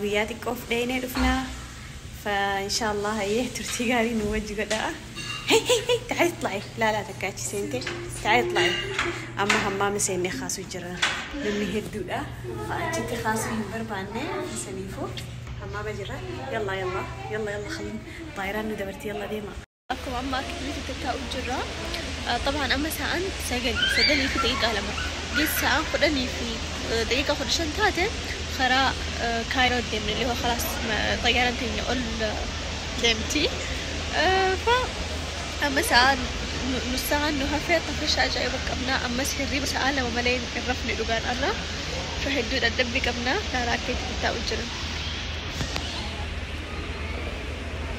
Guyyaa xiqqoof dheeynee dhufnaa fa inshaa Allah hayyee turtii gaarii nu wajji godhaa. Hey hey hey ta'ee xlaa'e laalaa takka achi seentee ta'ee xlaa'e amma hammaama seennee kaasuu jirra namni hedduudha fa achitti kaasuu hin barbaanne saniifuu hammaama jirra yallaa yallaa yallaa yallaa khaluu xaayiraan nu dabarti yallaa deemaa. akkuma amma akka turetti tattaa'u jirra. Xabaan amma sa'aan sagal sagalii fi daqiiqaa lama geessi sa'aan kudhanii fi daqiiqaa kudha shan taate karaa kaayiroo deemne illee kalaas xayyaaran keenya ol deemti. Fa amma sa'aan nus sa'aan nu hafee akka fishaa ajaa'iba qabna ammas hirriba sa'aa lama malee hin rafne dhugaan arra. Fa hedduu dadhabbii qabna karaa akka itti tattaa'u jira.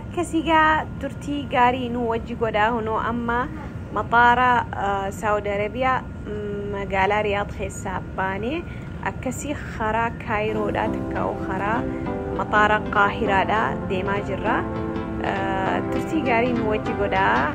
Akkasi gaa turtii gaarii nuu wajji godhaa hunoo amma maxaara saudi arabia magaalaa riyaad keessaa baanee akkasi karaa kaayiroodhaa takkaa'u karaa maxaara qaahiraadhaa deemaa jirra turtii gaarii nuu wajji godhaa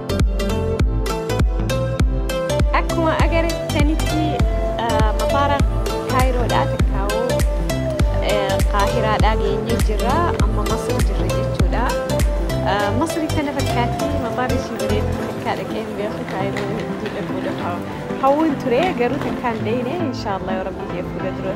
Akkuma agartanitti mafaara Kaayiroodhaa takkaawoo Kaahiraadhaa geenyee jirra. Amma Masri jirra jechuudha. Masri kana fakkaatti mafaarri ishii bareedu takkaa dhaqee hin beeku Kaayiroo hedduu dhaquudhaaf hawwuun ture garuu takkaan deeyne inshaallah yoo rabbi jee fuula dura.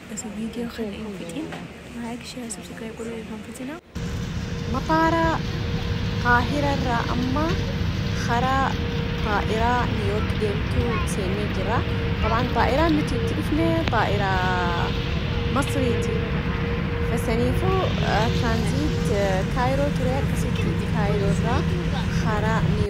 Osoo video kana hin fixin like share subscribe godhuu hin irraanfatina. Mataara Kaahira irraa amma karaa xaa'iraa Niiwyoork deemtu seennee jira. Dabaan xaa'iraan nuti itti dhufne xaa'iraa Masriiti. Saniifuu tiraanziit Kaayiroo ture akkasitti Kaayiroo irraa karaa Niiwyoork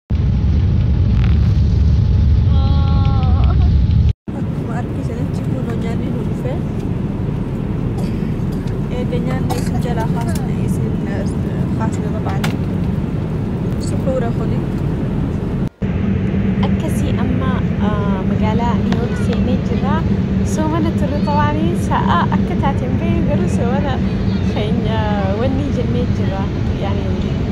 Akkuma argisanitti kunoo nyaanni nu dhufe. Eega nyaanni isin jalaa kaasne isin kaasne babaane. Suhuura kuni. Akkasii amma magaalaa Niiwoork seenee jira. Soomana turre tawaanii sa'a akka taateen ba'e garuu soomana keenya wanni jennee jira. Yaani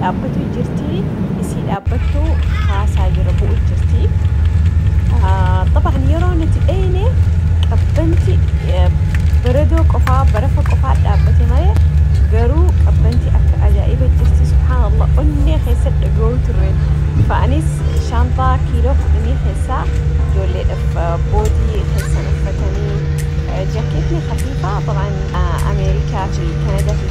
dhaabbatuu jirti isii dhaabbattu haasaa jira bu'u jirti طبعا yeroo nuti dheyne qabbanti baredoo qofaa barafa qofaa dhaabbate malee garuu qabbanti akka ajaa'iba jirti subhaanallah onnee keessa dhaga'uu turre fa'anis shaantaa kiiloo fudhanii keessaa ijoolleedhaaf boodii keessan uffatanii jaakeetni hafiifaa طبعا ameerikaa fi kanadaa fi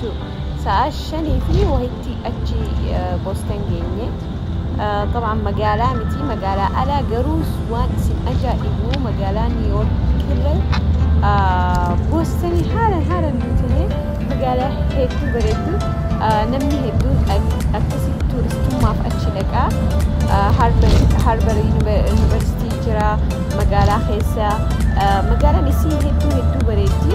Sa'a shanii fi wahitti achi Boston geenye. Xabaan magaalaa miti magaalaa alaa garuu waan isin ajaa'ibu magaalaa New York irra Boston haalan haalan guutine magaalaa hedduu bareeddu namni hedduun akkasi tuuristummaaf achi dhaqa. Harbar Yuunivarsiitii jira magaalaa keessa magaalaan isii hedduu hedduu bareeddi.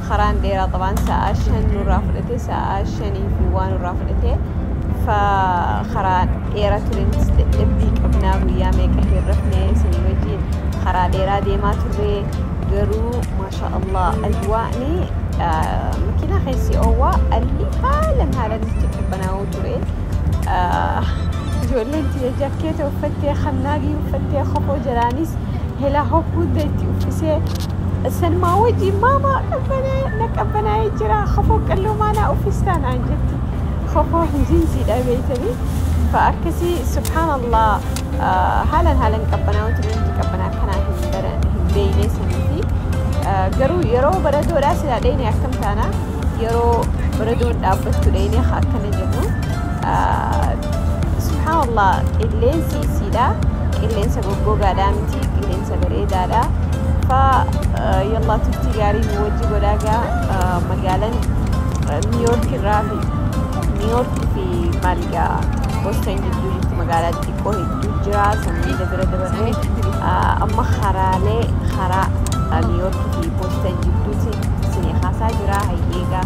karaan dheeraa qabaan sa'aa shan nurraa fudhate sa'aa shanii fi waa nurraa fudhate fa karaa dheera turenis dadhabbii qabnaa guyyaa meeqa hin rafne isinii wajjiin karaa dheeraa deemaa turree garuu maasha allah ajwaa'ni makiinaa keessi oowwaa alli haalan haalan itti qabbanaa'uu ture ijoolleen tiyya jakkeeta uffattee kannaagii uffattee kopoo jalaanis helaa hoppuudda itti uffisee Salmaa wajjin maama qabbanee na qabbanaa'ee jira kofoo qalloo maanaa uffistaa naan jetti kofoo hin jinsiidha beeytanii fa akkasii subhaanallah haalan haalan qabbanaa'uu ture nuti qabbanaa akkanaa hin bara hin beeyne saniifi garuu yeroo baradoodhaa silaa dheyne akkam taana yeroo baradoon dhaabbattu dheyne akkana jennu subhaanallah qilleensi isiidha qilleensa goggogaadhaa miti qilleensa Sagareedaadha fa yallaa turtii gaarii nu wajji godhaa gaa magaalan niiyoork irraa fi niiyoork fi maaligaa boston jidduu jirtu magaalaa xiqqoo hedduu jira sanniida bira dabarre amma haraalee haraa niiyoork fi boston jidduuti isinii haasaa jira hayyeegaa